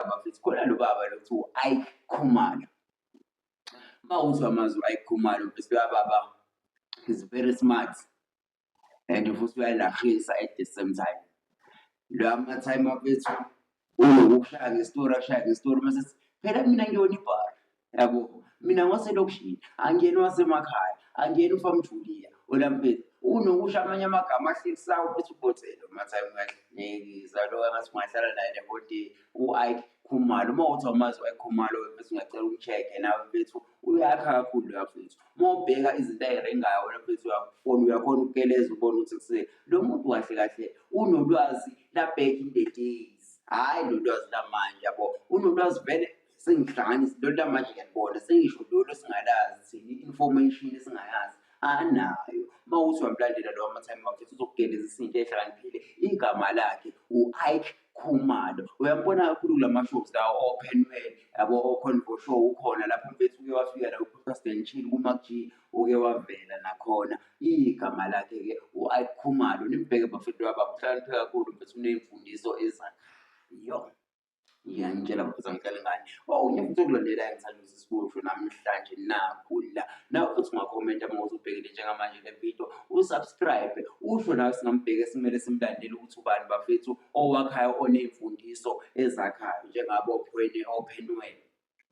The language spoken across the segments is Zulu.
baba futhi khona lo baba lo kuthiwa u-ike khumalo uma uzwa amazwi u-ike khumalo bese uyababa is very smart and futhi uyalahisa at the same time lo amatime afethu unokukushaya ngestori akushaya ngestori uma sethi phela mina ngiyona ibhara yabo mina ngwaselokishini angiyeni wasemakhaya angiyeni ufamjuliya olamfethu unokusho amanye amagama ahlekisayo futhi ubhothelo mathayi ungahlekisa lo ngathi ungahlala naye le whole day u-ike khumalo uma uthi awumazi u-ike khumalo mfethu ungacela umcheck-e nawe mfethu uyakha kakhulu loya mfethu uma ubheka izinto ayirengayo wena mfethu uyakufona uyakhona ukukeleza ubona ukuthi kuse lo muntu kahle kahle unolwazi la back in the days hhayi lo lwazi lamanje yabo unolwazi vele sengihlangana izinto lamanje ngiyanibona sengisho lolo singalazi thina i-information esingayazi anayo uma uthi wamlandela lowo amatime wakhe uzokugeleza isinto ehlakaniphile igama lakhe u-ike khumalo uyambona kakhulu kula ma-shows lawo open well yabo o-convo show ukhona lapho mfethu uke wafika la ucasden chill kuma-g uke wavela nakhona igama lakhe-ke u-ike khumalo nimbheke bafethu waba uhlakaniphile kakhulu mfethu unemfundiso ezakhayo ngiyangitshela mfuthu angicela ngani wow ngiyafutha ukulandela ngithanda ukuthi sikusho namhlanje nakhula nawe futhi ungakhomenta uma uzobhekile njengamanje le video usubscribe usho nawe singambheke simele simlandele ukuthi ubani bafethu owakhayo oney'mfundiso ezakhayo njengabo ophwene ophenwele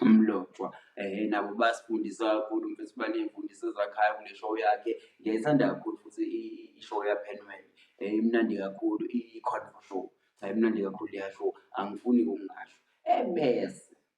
umlotshwa um nabo basifundisa kakhulu mfethu baney'mfundiso ezakhayo kule show yakhe ngiyayithanda kakhulu futhi i-show yapenwell um eh, imnandi kakhulu i-convo show ayimnandi kakhulu yasho angifuni kungasho ebese